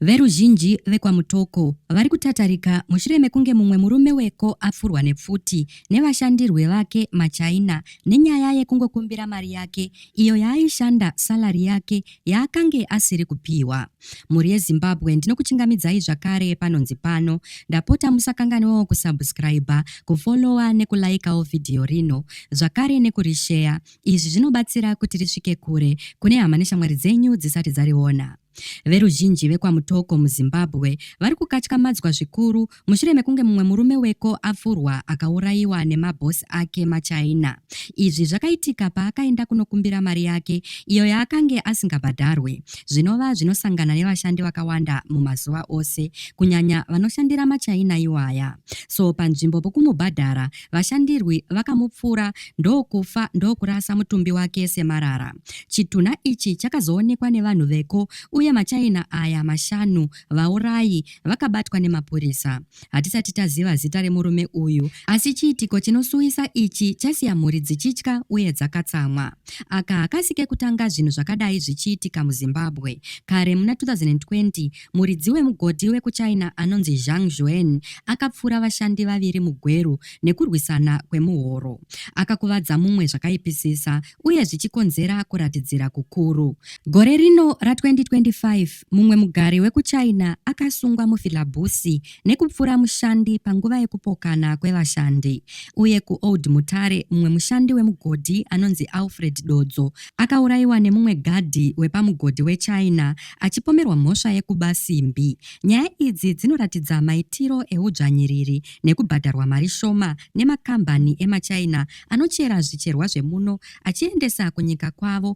Veruzhinji vekwaMutoko vari kutatarika mushure mekunge mumwe murume weko apfurwa nepfuti nevashandirwi vake maChina nenyaya yekungokumbira mari yake iyo yaaishanda salary yake yaakange asiri kupihwa. Mhuri yeZimbabwe ndinokuchingamidzai zvakare panonzi pano. Ndapota musakanganwewo kusubscriber, kufollower nekulaikawo vhidhiyo rino zvakare nekurisheya Izvi zvinobatsira kuti risvike kure kune hama neshamwari dzenyu dzisati dzariona. Veruzhinji vekwaMutoko muZimbabwe vari kukatyamadzwa zvikuru mushure mekunge mumwe murume weko apfurwa akaurayiwa nemabhosi ake maChina. Izvi zvakaitika paakaenda kunokumbira mari yake iyo yaakange asingabhadharwe, zvinova zvinosangana nevashandi vakawanda mumazuva ose, kunyanya vanoshandira maChina iwaya. So panzvimbo pokumubhadhara, vashandirwi vakamupfura ndokufa ndokurasa mutumbi wake semarara. Chitunha ichi chakazoonekwa nevanhu veko uye machaina aya mashanu vaurayi vakabatwa nemapurisa. Hatisati taziva zita remurume uyu asi chiitiko chinosuwisa ichi chasiya mhuri dzichitya uye dzakatsamwa. Aka hakasi kekutanga zvinhu zvakadai zvichiitika muZimbabwe. Kare muna 2020 Muridzi wemugodhi wekuChina anonzi Zhang Zhuan akapfura vashandi vaviri mugweru nekurwisana kwemuhoro. Akakuvadza mumwe zvakaipisisa uye zvichikonzera kuratidzira kukuru. Gore rino ra2025, mumwe mugari wekuChina akasungwa muFilabusi nekupfura mushandi panguva yekupokana kwevashandi. Uye kuOld Mutare, mumwe mushandi wemugodhi anonzi Alfred Dodzo akaurayiwa nemumwe gadhi wepamugodhi wechina achipomerwa mhosva yekuba simbi. Nyaya idzi dzinoratidza maitiro eudzvanyiriri nekubhadharwa mari shoma nemakambani emaChina anochera zvicherwa zvemuno achiendesa kunyika kwavo